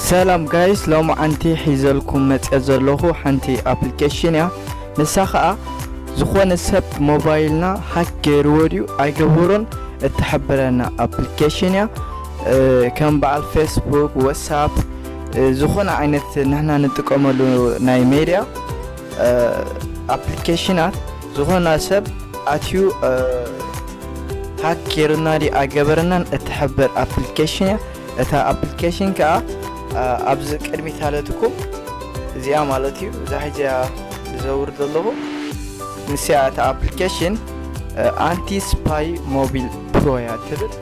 ሰላም ጋይስ ሎሚ ዓንቲ ሒዘልኩም መጽ ዘለኹ ሓንቲ ኣፕሊኬሽን እያ ንሳ ኸዓ ዝኾነ ሰብ ሞባይልና ሃክ ገይርዎ ድዩ ኣይገበሮን እትሕብረና ኣፕሊኬሽን እያ ከም በዓል ፌስቡክ ወትሳፕ ዝኾነ ዓይነት ንሕና ንጥቀመሉ ናይ ሜድያ ኣፕሊኬሽናት ዝኾነ ሰብ ኣትዩ ሃክ ጌሩና ድዩ ኣገበረናን እትሕብር ኣፕሊኬሽን እያ እታ ኣፕሊኬሽን ከዓ ኣብዚ ቅድሚት ኣለትኩም እዚኣ ማለት እዩ እዛ ሕዚያ ዘውርድ ዘለኹ ንስያ እታ ኣፕሊኬሽን ኣንቲ ስፓይ ሞቢል ፕሮ እያ ትብል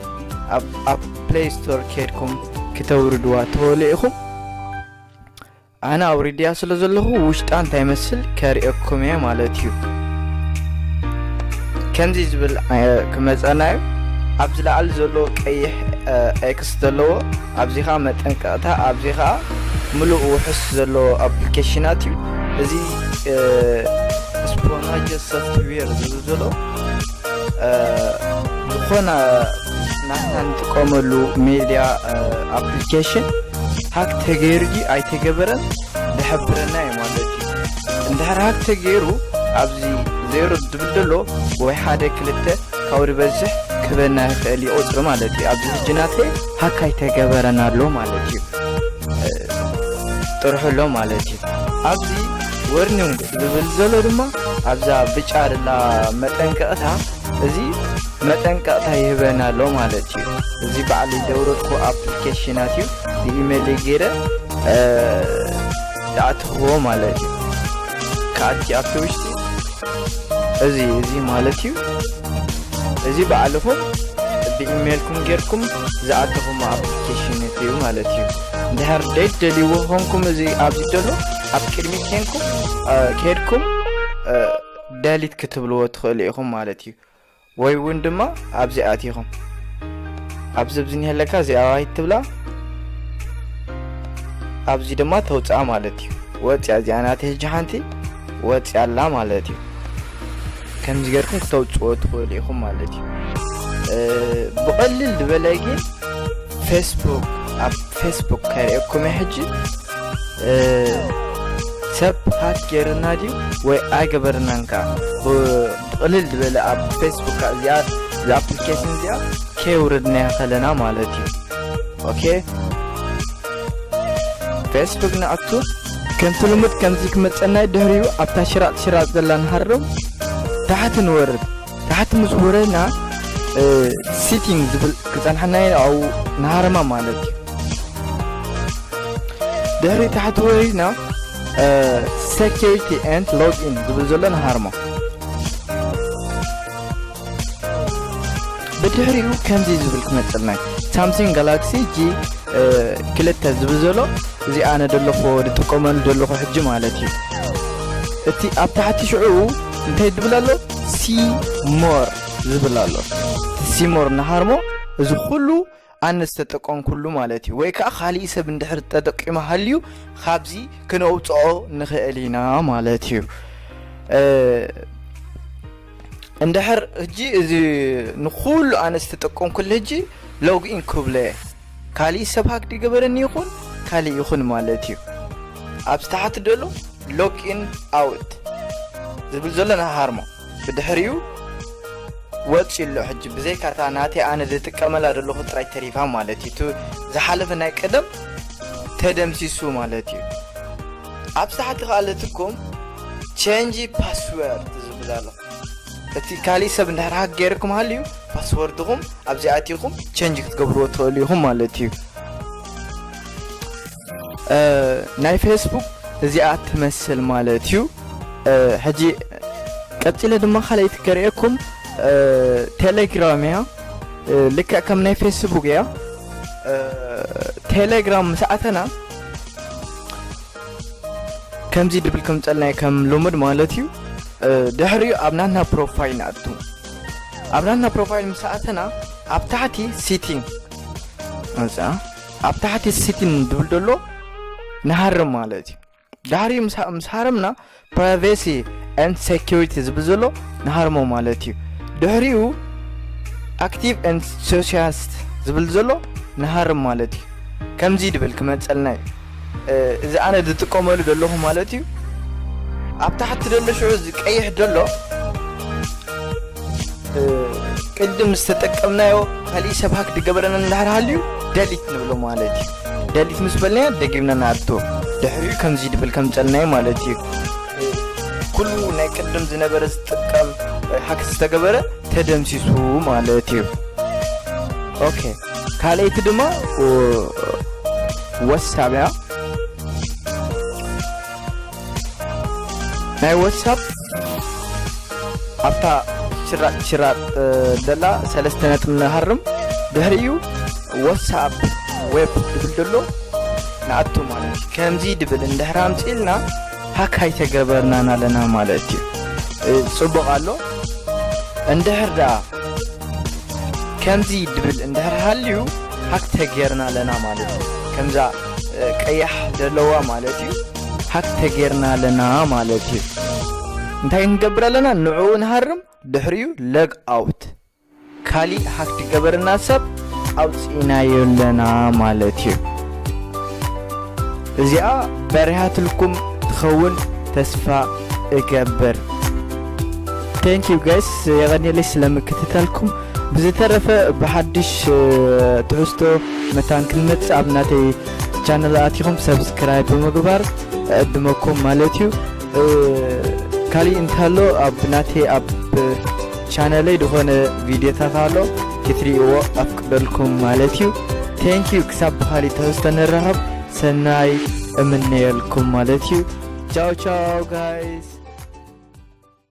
ኣብ ፕሌይ ስቶር ከድኩም ክተውርድዋ ተወሉ ኢኹም ኣነ ኣውሪድያ ስለ ዘለኹ ውሽጣ እንታይ መስል ከርእየኩም እየ ማለት እዩ ከምዚ ዝብል ክመፀና እዩ ኣብ ዝለዓል ዘሎ ቀይሕ ኤክስ ዘለዎ ኣብዚ ከዓ መጠንቀቕታ ኣብዚ ከዓ ምሉእ ውሑስ ዘለዎ ኣፕሊኬሽናት እዩ እዚ ስፖናጀ ሶፍትዌር ዝብል ዘሎ ዝኾነ ናትና ንጥቀመሉ ሜድያ ኣፕሊኬሽን ሃክ ተገይሩ ድዩ ኣይተገበረን ዝሕብረና እዩ ማለት እዩ እንድሕር ሃክ ተገይሩ ኣብዚ ዜሮ ዝብል ዘሎ ወይ ሓደ ክልተ ካብኡ ዝበዝሕ ክህበና ይኽእል እዩ ቁፅሪ ማለት እዩ ኣብዚ ሕጂ ናተይ ሃክ ኣይተገበረን ኣሎ ማለት እዩ ጥርሑ ኣሎ ማለት እዩ ኣብዚ ወርኒንግ ዝብል ዘሎ ድማ ኣብዛ ብጫ ደላ መጠንቀቕታ እዚ መጠንቀቕታ ይህበና ኣሎ ማለት እዩ እዚ በዓል ዘውረድኩ ኣፕሊኬሽናት እዩ ብኢሜይለይ ገይረ ዝኣትኽዎ ማለት እዩ ከኣቲ ኣብቲ ውሽጢ እዚ እዚ ማለት እዩ እዚ በዓልኹም ብኢሜይልኩም ጌርኩም ዝኣተኹም ኣፕሊኬሽን እዩ ማለት እዩ እንድሕር ደይትደልይዎ ኮንኩም እዚ ኣብዚ ዘሎ ኣብ ቅድሚ ኬንኩም ከድኩም ደሊት ክትብልዎ ትኽእሉ ኢኹም ማለት እዩ ወይ እውን ድማ ኣብዚ ኣቲኹም ኣብዚ ኣብዚ ኒሀለካ እዚኣ ዋሂድ ትብላ ኣብዚ ድማ ተውፅኣ ማለት እዩ ወፅያ እዚኣ ናተ ህጂ ሓንቲ ወፅያ ኣላ ማለት እዩ ከምዚ ገርኩም ክተውፅዎ ትኽእሉ ኢኹም ማለት እዩ ብቐልል ዝበለ ግን ፌስቡክ ኣብ ፌስቡክ ከርእየኩም ሕጂ ሰብ ሃክ ገይርና ድዩ ወይ ኣይገበርናን ከ ብቕልል ዝበለ ኣብ ፌስቡክ እዚኣ ኣፕሊኬሽን እዚኣ ከየውረድናያ ከለና ማለት እዩ ኦኬ ፌስቡክ ንኣቱ ከምቲ ልሙድ ከምዚ ክመፀናይ ድሕሪኡ ኣብታ ሽራጥ ሽራጥ ዘላ ንሃርም ታሕቲ ንወርድ ታሕቲ ምስ ወረና ሲቲንግ ዝብል ክፀንሐና ኣብኡ ንሃረማ ማለት እዩ ድሕሪ ታሕቲ ወሪድና ሴኪሪቲ ኤንድ ሎግኢን ዝብል ዘሎ ንሃርሞ ብድሕሪኡ ከምዚ ዝብል ክመፅልና ሳምሲንግ ጋላክሲ ጂ ክልተ ዝብል ዘሎ እዚ ኣነ ደለኹ ዝጥቀመሉ ደለኹ ሕጂ ማለት እዩ እቲ ኣብ ታሕቲ ሽዑ እንታይ ዝብል ኣሎ ሲ ሞር ዝብል ኣሎ ሲ ሞር ንሃርሞ እዚ ኩሉ ኣነ ዝተጠቀምኩሉ ማለት እዩ ወይ ከዓ ካሊእ ሰብ እንድሕር ተጠቂሙ ሃልዩ ካብዚ ክነውፅኦ ንኽእል ኢና ማለት እዩ እንድሕር እጂ እዚ ንኩሉ ኣነ ዝተጠቀምኩሉ እጂ ሎግኢን ክብሎ እየ ካሊእ ሰብ ሃክ ድገበረኒ ይኩን ካሊእ ይኩን ማለት እዩ ኣብዚ ታሕቲ ደሎ ሎግ ኢን ኣውት ዝብል ዘሎ ንሃርሞ ብድሕሪኡ ወፂኡ ኣሎ ሕጂ ብዘይ ካርታ ናተይ ኣነ ዝጥቀመላ ዘለኹ ጥራይ ተሪፋ ማለት እዩ ዝሓለፈ ናይ ቀደም ተደምሲሱ ማለት እዩ ኣብ ሳሕቲ ከኣለትኩም ቸንጂ ፓስወርድ ዝብል ኣሎ እቲ ካሊእ ሰብ እንድሕር ሃክ ጌርኩም ሃልዩ ፓስወርድኹም ኣብዚ ኣቲኹም ቸንጅ ክትገብርዎ ትኽእሉ ኢኹም ማለት እዩ ናይ ፌስቡክ እዚኣ ትመስል ማለት እዩ ሕጂ ቀፂለ ድማ ካልኣይቲ ከርእየኩም ቴሌግራም እያ ልክዕ ከም ናይ ፌስቡክ እያ ቴሌግራም ምስ ኣተና ከምዚ ድብል ከምጸልናይ ከም ልሙድ ማለት እዩ ድሕሪኡ ኣብ ናትና ፕሮፋይል ንኣቱ ኣብ ናትና ፕሮፋይል ምስ ኣተና ኣብ ታሕቲ ሲቲን መጽ ኣብ ታሕቲ ሲቲን ድብል ደሎ ንሃርም ማለት እዩ ድሕሪኡ ምስ ሃረምና ፕራይቬሲ ኤንድ ሴኩሪቲ ዝብል ዘሎ ንሃርሞ ማለት እዩ ድሕሪኡ ኣክቲቭ ኤንድ ሶሻልስት ዝብል ዘሎ ንሃርም ማለት እዩ ከምዚ ድብል ክመፀልና እዩ እዚ ኣነ ዝጥቀመሉ ዘለኹ ማለት እዩ ኣብ ታሕቲ ዘሎ ሽዑ ዝቀይሕ ዘሎ ቅድም ዝተጠቀምናዮ ካሊእ ሰብ ሃክ ድገበረና እንዳሕር ሃልዩ ደሊት ንብሎ ማለት እዩ ደሊት ምስ በልናዮ ደጊምና ንኣቶ ድሕሪኡ ከምዚ ድብል ከም ጸልናዮ ማለት እዩ ኩሉ ናይ ቅድም ዝነበረ ዝጥቀም ሃክ ዝተገበረ ተደምሲሱ ማለት እዩ ኦኬ ካልኣይቲ ድማ ወሳብያ ናይ ወትሳፕ ኣብታ ሽራጥ ሽራጥ ደላ ሰለስተ ነጥብ ንሃርም ድሕሪኡ ወትሳፕ ዌብ ድብል ደሎ ንኣቱ ማለት እዩ ከምዚ ድብል እንድሕር ኣምፅልና ሃክ ኣይተገበርናን ኣለና ማለት እዩ ፅቡቕ ኣሎ እንድሕር ደኣ ከምዚ ድብል እንድሕር ሃልዩ ሃክ ተገርና ኣለና ማለት እዩ ከምዛ ቀያሕ ደለዋ ማለት እዩ ሃክ ተጌርና ኣለና ማለት እዩ እንታይ ክንገብር ኣለና ንዕኡ ንሃርም ድሕሪኡ ለግ ኣውት ካሊእ ሃክ ትገበረና ሰብ ኣውፅኢናዮ ኣለና ማለት እዩ እዚኣ በሪሃትልኩም ትኸውን ተስፋ እገብር ቴንክ ዩ ጋይስ የቐኒለይ ስለምክትታልኩም ብዝተረፈ ብሓድሽ ትሕዝቶ መታን ክንመፅእ ኣብ ናተይ ቻነል ኣቲኹም ሰብስክራይብ ብምግባር ዕድመኩም ማለት እዩ ካሊእ እንተሎ ኣብ ናተይ ኣብ ቻነለይ ዝኾነ ቪድዮታት ኣሎ ክትሪእዎ ኣፍቅደልኩም ማለት እዩ ቴንኪዩ ክሳብ ብካሊእ ትሕዝቶ ንራኸብ ሰናይ እምነየልኩም ማለት እዩ ቻው ቻው ጋይስ